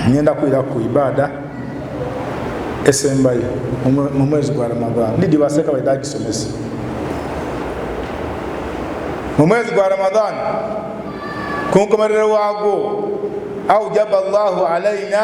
ngenda kuira ku ibada esembayo mu mwezi gwa ramadhan ndidi baseka baidagisomesa mu mwezi gwa ramadhan ku nkomerero waagwo aujaba llahu alaina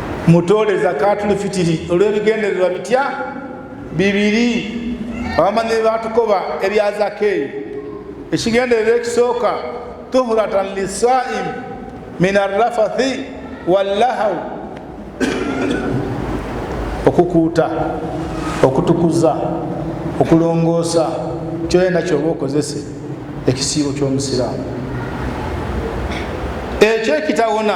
mutoole zakatul fitiri olw'ebigendererwa bitya bibiri abamanyi batukoba ebya zaka eyo ekigendererwa ekisooka tuhuratan lisaim min arrafathi wallahau okukuuta okutukuza okulongoosa kyoyena kyoba okozese ekisiibo ky'omusiraamu ekyo ekitawona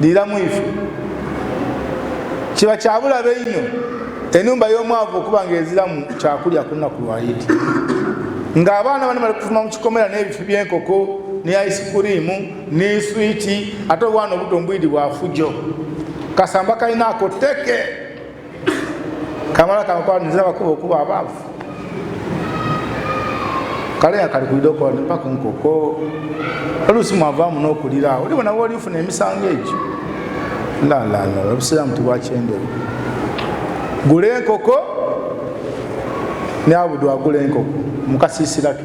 liiramu ife kiba kyabulabe nnyo enumba y'omwavu okuba nga eziramu kyakulya ku lunaku lwayidi ng'abaana bani bali kufuma mu kikomera n'ebifi by'enkoko ne aisikuriimu n'eswiti ate obwana obuto mbwidi bwafujo kasamba kalinaako teke kamala kankwaniza bakuba okuba abaavu kale yakalikuide okola nepaka nkoko oluusi mwavaamu n'okuliraawo oli bona woli ofuna emisango egyo lalalala obusiraamu tibwakyendere gula enkoko neabudu agula enkoko mukasiisirake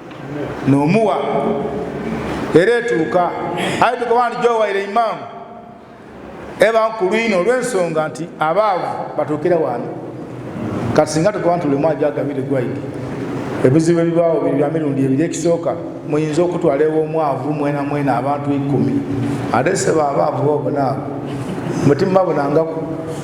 nomuwa era etuuka aye tukoba nti gyowaira imaamu eba nkulwina olwensonga nti abaavu batuukira waani kati singa tukoba nti lulimu ajagabire gwaidi ebizibu ebibaawo biri bya mirundi ebiri ekisooka muyinza okutwala ewomwavu mwena mwena abantu ikumi ate seba abaavu bobonaabo mutima bunangaku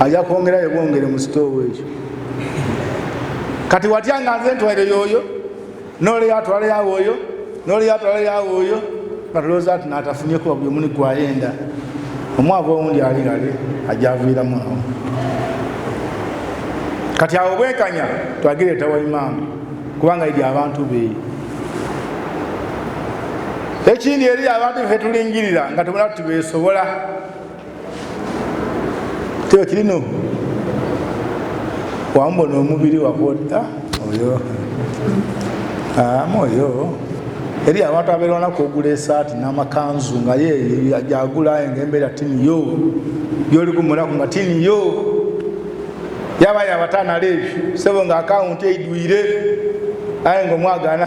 aja kwongera yebwongere mu sitoowa ekyo kati watya nga nze ntwalire yooyo noleyo atwale yawe oyo noleyo atwale yawe oyo natulowooza ati natafunye kuba buli omuni gwayenda omwava owundi ali lale ajaviiramu awo kati awo bwenkanya twagire etawa imaamu kubanga eri abantu beeyo ekindi eri abantu fe tulingirira nga tumala tuti besobola kyo kirino wambona omubiri wakuota ah, oyo ama ah, oyo eri abantu abeerwanaku ogula esaati n'amakanzu nga ye gyagulaye nga embeera tini yo byoli kumulaku nga tini yo yaba yabatanala ebyo sebo nga akawunti eidwire aye nga omwagana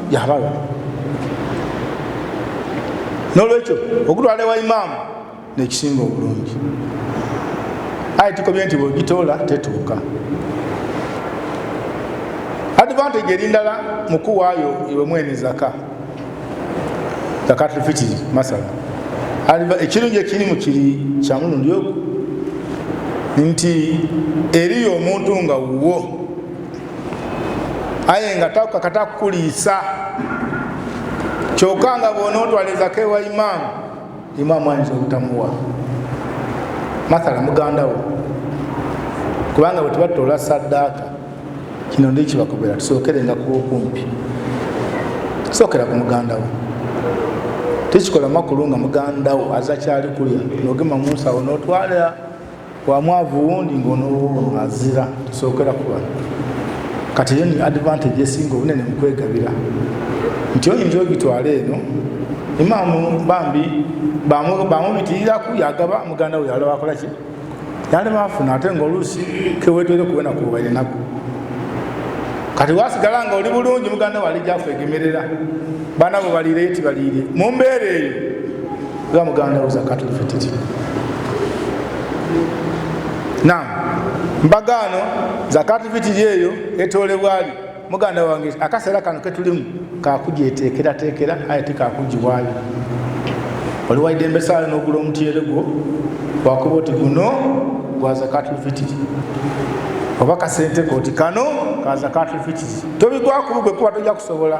yabala nolwekyo okutwala ewa imaamu nekisinga obulungi aye tukomye nti bwegitoola tetuuka advantage eri ndala mukuwaayo iwe mwene zaka zakatulfitiri masala ekirungi ekirimu kiri kyamulundi ogu nti eriyo omuntu nga wuwo aye nga takakata kukuliisa kyoka nga bwonaotwalizako ewa imaamu imaamu ayinza obutamuwa mathala mugandawo kubanga bwe tubatoola saddaaka kino ndi kibakubera tusookerenga kuba okumpi sookera ku mugandawo tekikola makulu nga mugandawo azakyali kulya nogema munsawo notwalira wa mwavu wundi ng'onoowo azira tusookera ku bano kati eyo ni advantage esinga obunene mu kwegabira nti oyinza ogitwala eno imaamu bambi bamubitirirako yagaba muganda we yalaba akola ki yali bafuna ate ngaoluusi kewetwere kuwena kuba enaku kati wasigala nga oli bulungi muganda we alijafegemerera bana bwe baliire yeti baliire mu mbeera eyo oba muganda wo zakatul fitiri nam mbagaano zakatul fitiri eyo etolebwali muganda wange akaseera kano ketulimu kakujeteekerateekera aye tekakugiwaayo oliwaide embesaale nogula omutyere gwo wakuba oti guno gwa zakatul fitiri oba kasente koti kano ka zakatul fitiri tobigwakubu gwekuba tojja kusobola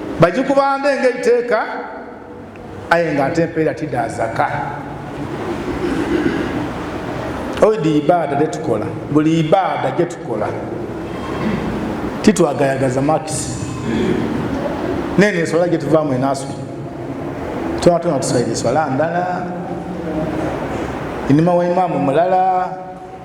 bagikubanda engeri teeka aye nga ate empeera tida zaka oidi ibaada tetukola buli ibaada gyetukola titwagayagaza makisi nene eswala gyetuvaamu enaswi tonatona tusaire eswala ndala enima wa imaamu mulala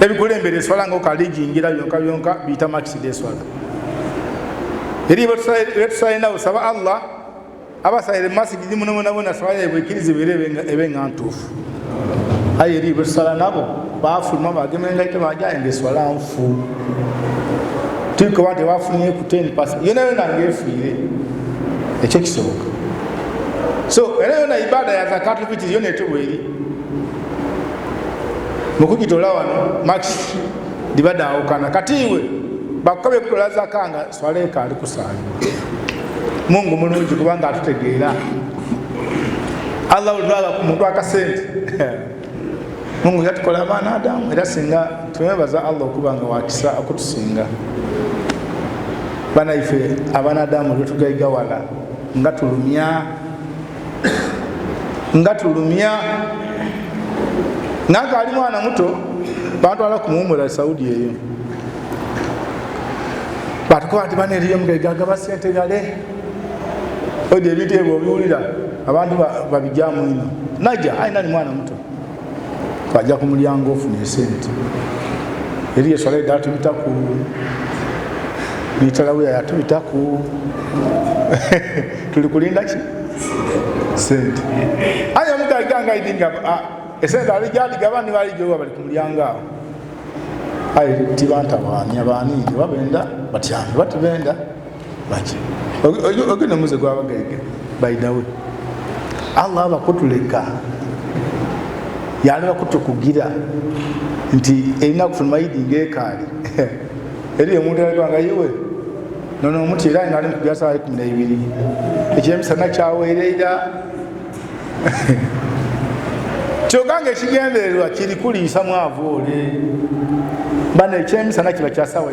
ebikulembera eswala nga okalijingira byonka byonka biyita makisida eswala eri betusalinawo saba allah abasalire masigidi munabonabona swala yabwe ekiriza ebe nga ntuufu aye eri betusala nabo bafuluma bagema engaito bajaye nga eswala nfu tuikoba tebafunye ku 10 pas yona yona ngaefuire ekyo kisoboka so era yona ibada ya zakatufitiri yona etobweri mukugitola wano max ndibadaawukana kati iwe bakukabye kutola zaka nga swaleeka ali kusaali mungu mulungi kubanga atutegeera allah olutwala ku muntu akasente mungu yatukola abaana adamu era singa twebaza allah okuba nga wakisa okutusinga banaife abaana adamu lwetugaiga wala nga tulumya nga tulumya nange ali mwana muto bantwala kumuwumula saudi eyo batukuba nti bana eriyo mugegagaba sente gale oja ebintu ebyo obiwulira abantu babijamu ino naja ayina ni mwana muto bajja ku mulyango ofuna esente eri eswala edala tubitaku nitalawiya yatubitaku tuli kulinda ki sente aye omugaiganga idinga ah, esente alijadigaba nibalijowa bali ku mulyango awo aye tibantabaani abaani oba benda batyani oba tibenda ogenda muze gwabagege baidawe allah abakutuleka yalina kutukugira nti erina kufuna mayidi ngekaali eri omuntu alaganga yewe nono omuti era nga ali mukugira sawa ekumi naibiri ekyemisana kyawereira kyoka nga ekigendererwa kiri kuliisa mwavu ole bana ekyemisana kiba kyasawa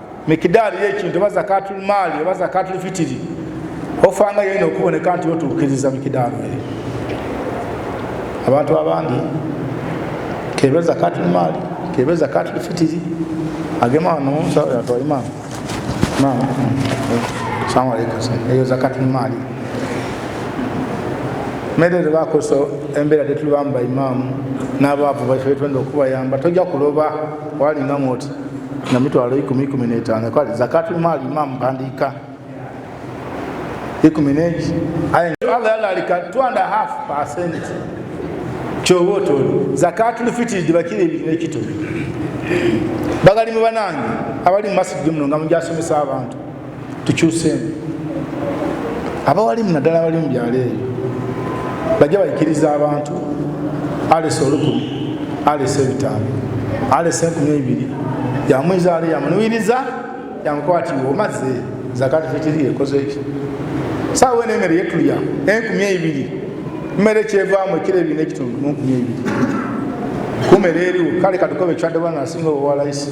mikidaali yekintu oba zakatul maali oba zakatul fitiri ofanga yena okuboneka nti otuukiriza mikidaali eyo abantu abandi kebe zakatul maali kebe zakatul fitiri agema wano yatwa imamu imamu salamu alaikum eyo zakatul maali mere tebakozesa embeera tetulibamba imamu n'abaavu baife betwenda okubayamba tojja kuloba walinga mwoti nga mitwalo ikumi ikumi netaano kale zakati maali imamu mpandiika ikumi negi allah yalalika two and a half percent kyoba otoli zakati lufitiri gibakira ebiri nekito bagali mu banange abali mu masigi muno nga mujasomesa abantu tukyuseemu abawalimu naddala abali mu byalo eyo bajja bayikiriza abantu alesa olukumi alesa ebitaano alesa enkumi ebiri yamwiza ali yamunuwiriza yamukwatiwa omaze zakati fitiri ekoze ekyo saawa eno emere yetulya enkumi ebiri mmere kyevaamu ekiro ebiri nekitundu mu nkumi ebiri kumere eriwo kale katukoba ekyaddebwa nga asinga obowalaisi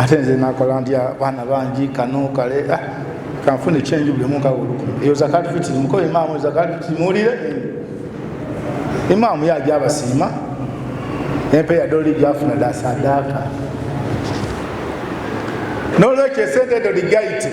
ate nze nakola ntya baana bangi kano kale ah, kanfuna ekyenju buli omu nkawa olukumi eyo zakati fitiri mukola imaamu zakati fitiri muwulire imaamu yaja abasiima empeeya doli gyafuna dasadaaka nolwekyo esente edo ligayite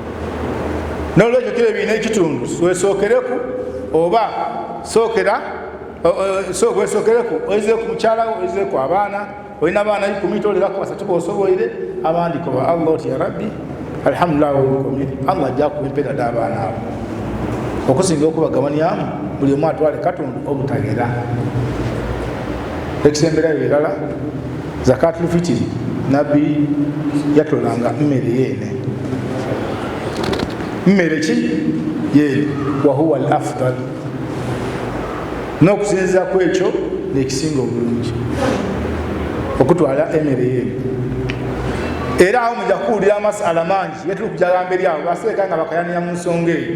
nolwekyo kira ebiina ekitundu wesookereku oba sookera wesookereku oizeku mukyalawo oizeku abaana olina abaana ikumi toleraku basatu bosoboire abandi koba allah oti ya rabbi alhamdulilah wolukomi allah ajja kuwa empera dabaana abo okusinga okubagabanyamu buli omu atwale katundu obutagera ekisemberayo birala zakati lufitiri nabbi yatolanga mmere yeene mmere ki yeene wahuwa al afdal n'okusinziza ku ekyo nekisinga obulungi okutwala emere yeene era awo muja kuwulira amasala mangi yetuli kujagamba eri abo baseeka nga bakayanira mu nsonga eyo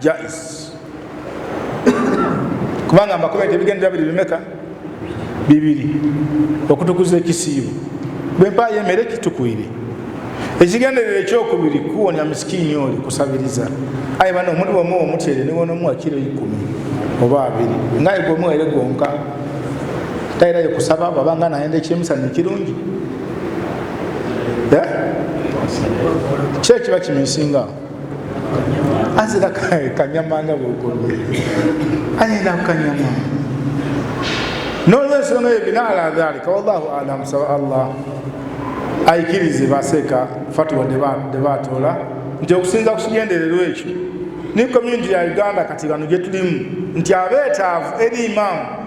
jais kubanga mbakuba nti ebigendera biri bimeka bibiri okutukuza ekisiibo bwempaayo emere kitukwire ekigenderera ekyokubiri kuwonya misikiini oli kusabiriza aye bana omuli wamu omutyere niwonomuwa kiro ikumi oba abiri ngaye gwomuwere gwonka tayirayo kusaba babanga nayenda ekyemusana ekirungi kyekiba kiminsinga azira kanyama nga bwokolwe ayenda kukanyama nolwensonga eyo bina ala dhalika wallahu alam saba allah aikirize baseeka fatuwa debatoola nti okusinza kukigendererwa ekyo ne community ya uganda kati bano gyetulimu nti abeetaavu eri imaamu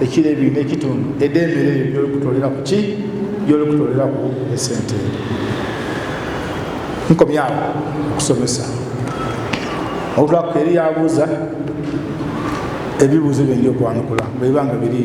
ekiro ebiri n'ekitundu edde emere eyo gyolikutolera ku ki gyolikutolera ku esente nkomyawo okusomesa olutwakuka eri yabuuza ebibuuzo byendi okwanukula bwebanga biri